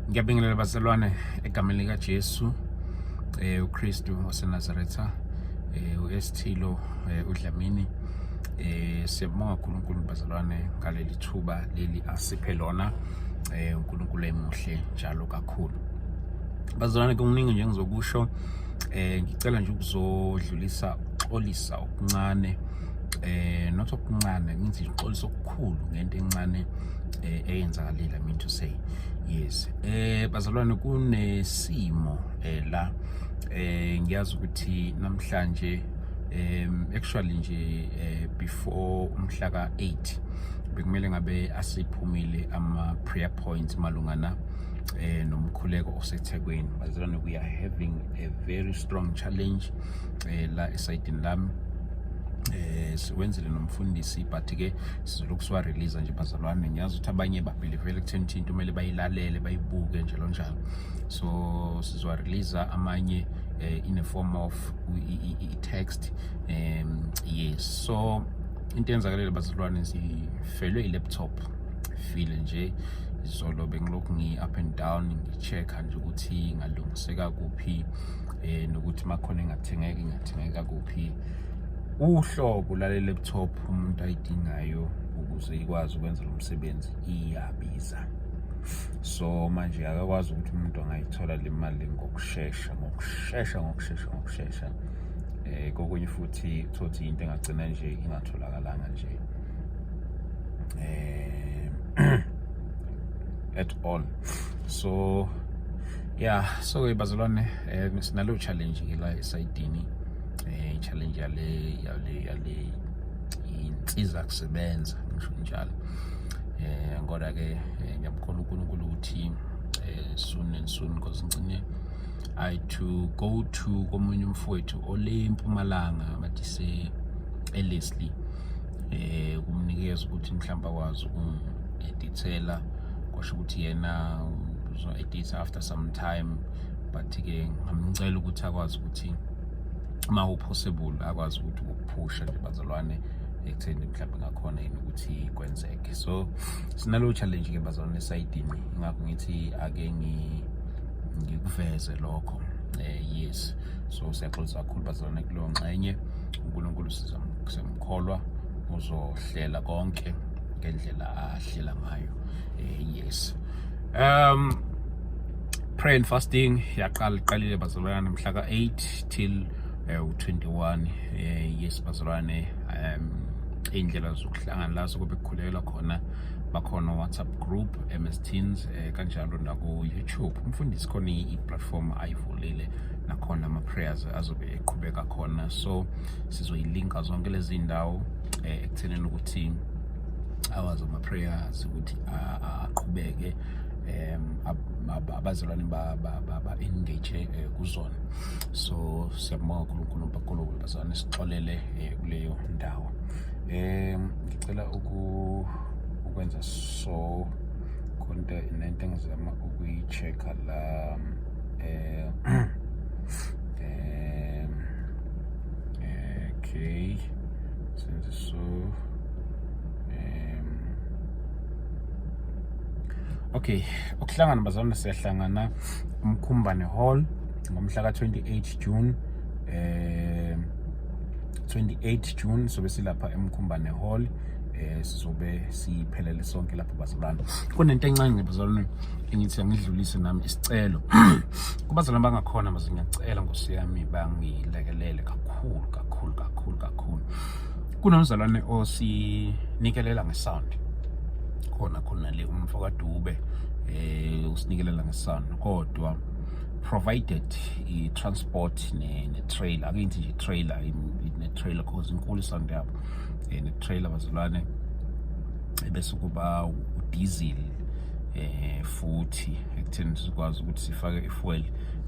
ngiyabingelela bazalwane egameni likaJesu eh uKristu waseNazaretha eh uSthilo eh, uDlamini eh siyabonga uNkulunkulu bazalwane ngaleli thuba leli asiphe lona eh uNkulunkulu emuhle njalo kakhulu bazalwane kuningi nje ngizokusho eh ngicela nje ukuzodlulisa ukuxolisa okuncane eh not okuncane ngithi ngixolisa okukhulu ngento encane eh, eyenzakalile I mean to say yes eh bazalwane kunesimo eh la eh ngiyazi ukuthi namhlanje um actually nje eh, before umhla ka 8 bekumele ngabe asiphumile ama prayer points malungana eh nomkhuleko osethekwini bazalwane we are having a very strong challenge eh la esayidini lami eh siwenzile nomfundisi but ke sizolokhu siwarelease nje bazalwane ngiyazi ukuthi abanye babhilivele ekutheni ukuthi into kumele bayilalele bayibuke njalo njalo so sizowarelease amanye eh, in a form of i-text um yes so into yenzakalele bazalwane sifelwe i-laptop file nje izolo bengilokhu ngi-up and down ngi-check-a nje ukuthi ngalungiseka kuphi um nokuthi uma khona engathengeki ingathengeka kuphi uhlobo lale laptop umuntu ayidingayo ukuze ikwazi ukwenza lo msebenzi iyabiza so manje akakwazi ukuthi umuntu angayithola le mali ngokushesha ngokushesha ngokushesha ngokushesha eh kokunye futhi thothi into engagcina nje ingatholakalanga nje eh at all so yeah so bazalwane eh sinalo challenge la esayidini eh challenge yale yale yale insiza kusebenza ngisho njalo eh kodwa ke eh, ngiyamkholwa uNkulunkulu ukuthi eh, soon and soon because ngicine i to go to komunye umfowethu ole mpumalanga bathi se elesli eh kumnikeza ukuthi mhlawumbe akwazi ukungedithela kwasho ukuthi yena uzo editha after some time but ke ngamcela ukuthi akwazi ukuthi uma upossible akwazi ukuthi ukuphusha nje bazalwane ekutheni mhlawumbe ngakhona yini ukuthi kwenzeke so sinalo challenge ke bazalwane esayidini ingakho ngithi ake ngikuveze lokho eh yes so siyaxolisa kakhulu bazalwane kuleyo ngxenye unkulunkulu sizamkholwa uzohlela konke ngendlela ahlela ngayo eh yes um prayer and fasting yaqala iqalile bazalwane mhla ka-8 till eh, u-21 eh, yes bazalwane um iy'ndlela zokuhlangana la sokobe kukhulelwa khona bakhona whatsapp group ms teens eh, kanjalo naku-youtube umfundisi khona i-platform ayivulile nakhona ama-prayers azobe eqhubeka khona so sizoyilinka zonke lezi ndawo eh, ekuthenini ukuthi awazi ama-prayers ukuthi aqhubeke abazalwane ba-engage eh, kuzona so siyabonga unkulunkulu bakulunkulu bazalwane sixolele eh, kuleyo ndawo um ngicela ukwenza so konta nento engizama ukuyi-check-a la um okay senze so okay ukuhlangana bazalwane siyahlangana umkhumbane hall ngomhla ka-28 june eh 28 june sobe silapha emkhumbane hall eh sizobe siphelele sonke lapho bazalwane kunento encane bazalwane engithi angidlulise nami isicelo kubazalwane bangakhona maze ngiyacela ngosiyami bangilekelele kakhulu kakhulu kakhulu kakhulu kunomzalwane osinikelela ngesound khona khona le umfo kaDube eh usinikelela ngesound kodwa provided i transport ne, ne trailer akingithi nje trailer ne trailer cause inkulu isound yabo eh, ne trailer bazalwane bese kuba udiesel eh futhi ekutheni sikwazi ukuthi sifake ifuel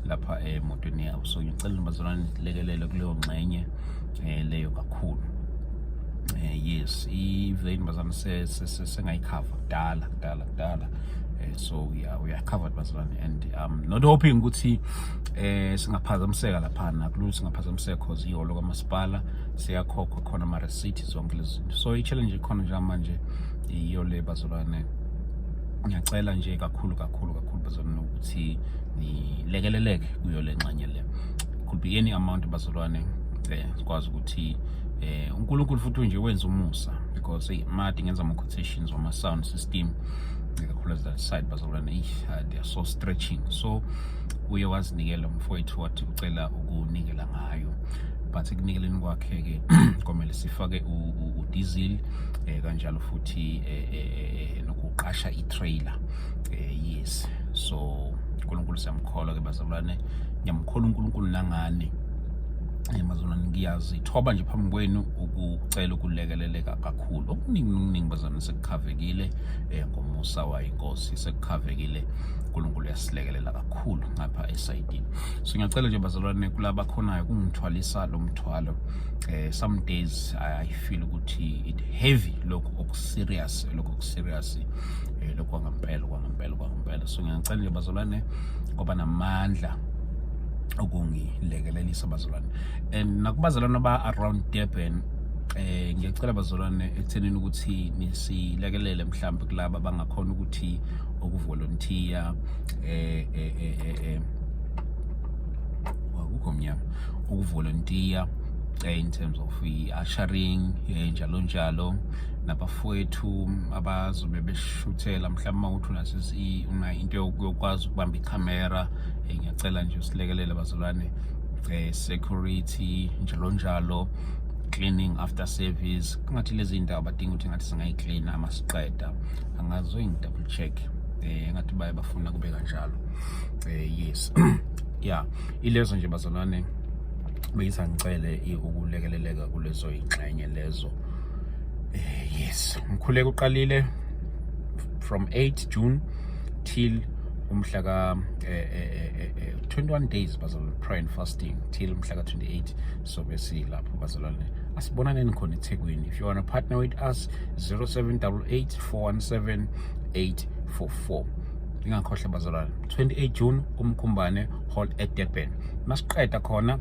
lapha emotweni yabo so ngicela bazalwane lekelele kuleyo ngxenye eh leyo kakhulu eh yes iveni bazana sengayikhava kudala kudala kudala eh so yeah we are covered bazalwane and um not hoping ukuthi eh singaphazamiseka lapha nakulula singaphazamiseka cause iholo kamasipala siyakhokhwa khona ama receipt zonke lezi zinto so i challenge ikhona njengamanje iyo le bazalwane ngiyacela nje kakhulu kakhulu kakhulu bazalwane ukuthi nilekeleleke kuyo le nxanye le could be any amount bazalwane eh sikwazi ukuthi eh uNkulunkulu futhi nje wenza umusa because hey mad ngenza ama quotations wama sound system ikakhulu that side bazalwane hey uh, they are so stretching so uye wazinikela umfowethu wathi ucela ukunikela ngayo but ekunikeleni kwakhe ke komele sifake u diesel eh kanjalo futhi eh, eh, eh nokuqasha i trailer eh yes so uNkulunkulu siyamkholwa ke bazalwane ngiyamkholwa uNkulunkulu nangani eh, mazalwane ngiyazithoba nje phambi kwenu ukucela ukulekeleleka kakhulu okuningi nokuningi bazalwane sekukhavekile um ngomusa wayo inkosi sekukhavekile unkulunkulu uyasilekelela kakhulu ngapha esayidini so ngiyacela nje bazalwane kulaba khonayo kungithwalisa lo mthwalo eh some days i feel ukuthi it heavy lokho okuserious lokho okuserious eh lokho kwangampela kwangampela kwangampela so ngiyacela nje bazalwane ngoba namandla ukungilekelelisa bazalwane and nakubazalwane aba around Durban eh ngiyacela bazalwane ekuthenini ukuthi nisilekelele mhlawumbe kulabo abangakhona ukuthi ukuvolunteer eh eh eh, eh, eh akukho mnyama ukuvolunteer eh, in terms of i-ushering eh, njalo njalo nabafowethu abazobe beshuthela mhlawumbe uma uthi unasisi una into yokwazi ukubamba ikhamera um ngiyacela nje usilekelele bazalwane um security njalo njalo cleaning after service kungathi lezi ndawo badinga ukuthi ngathi singayiklina uma siqeda angazoyingi-double check um ngathi baye bafuna kube kanjalo um yes ya ilezo nje bazalwane beyisa ngicele ukulekeleleka kulezo yingxenye lezo um yes mkhuleko uqalile from 8 june till umhla ka eh, eh, eh, 21 days bazalwane prayer and fasting till umhla ka 28 so besi lapho bazalwane asibonaneni khona eThekwini if you want to partner with us 0788 417 844 ingakhohle bazalwane 28 June umkhumbane hall at Durban masiqeda khona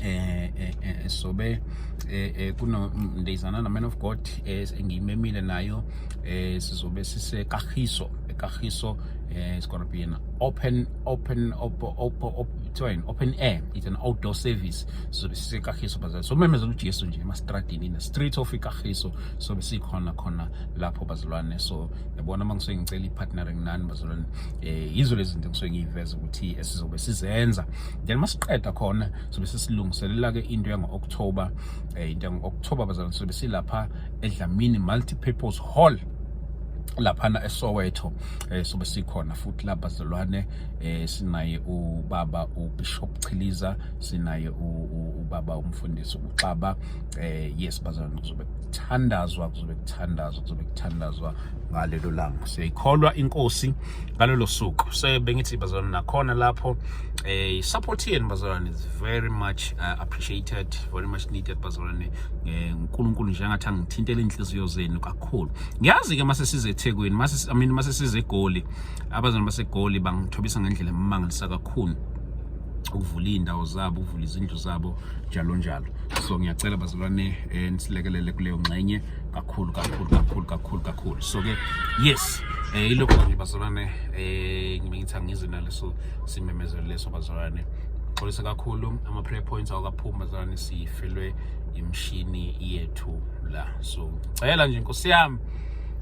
eh, eh, eh sobe eh, eh kunondezana na man of God engiyimemile nayo eh sizobe sise kahiso Kagiso eh, it's going to be an open open op, op, op, open, open air it's an outdoor service so besikagiso bazali so memezela uJesu nje emastradini in the street of ikagiso so besikhona khona lapho bazalwane so yabona mangisuke ngicela ipartnering nani bazalwane eh yizo lezi zinto ngisuke ngiyiveza ukuthi esizobe sizenza then masiqeda khona so besisilungiselela ke into yango October eh into yango October bazalwane so besilapha edlamini multi purpose hall laphana eSoweto eh sobe sikhona futhi la bazalwane eh sinaye ubaba uBishop Chiliza sinaye ubaba umfundisi uXaba eh yes bazalwane kuzobe kuthandazwa kuzobe kuthandazwa kuzobe kuthandazwa ngalelo langa siyikholwa inkosi ngalelo suku so bengithi bazalwane nakhona lapho eh support yenu bazalwane is very much uh, appreciated very much needed bazalwane eh, uNkulunkulu njengathi angithintele inhliziyo zenu kakhulu ngiyazi ke mase size eThekwini mase I mean mase size eGoli abazana baseGoli bangithobisa ngendlela emangalisayo kakhulu ukuvula izindawo zabo ukuvula izindlu zabo njalo njalo so ngiyacela bazalwane eh, nisilekelele kuleyo ngxenye kakhulu kakhulu kakhulu kakhulu kakhulu so ke yes eh ilokho nje bazalwane eh ngibengitha ngize naleso simemezelo leso bazalwane xolisa kakhulu ama prayer points awakaphumi bazalwane sifelwe imshini yethu la so cela nje nkosi yami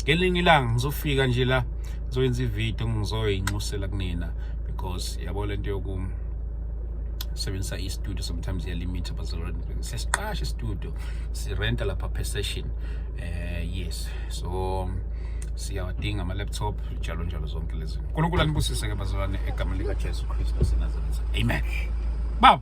ngelinye ilanga ngizofika nje la ngizoyenza ivideo ngizoyinxusela kunina because yabo lento yokum sebenzisa i-studio sometimes iyalimit abazalwane siyasiqasha i-studio sirenta lapha per session eh yes so siyawadinga ama-laptop njalo njalo zonke lezi nkulunkulu anibusise-ke bazalwane egameni likajesu kristu asenazaretha amen baba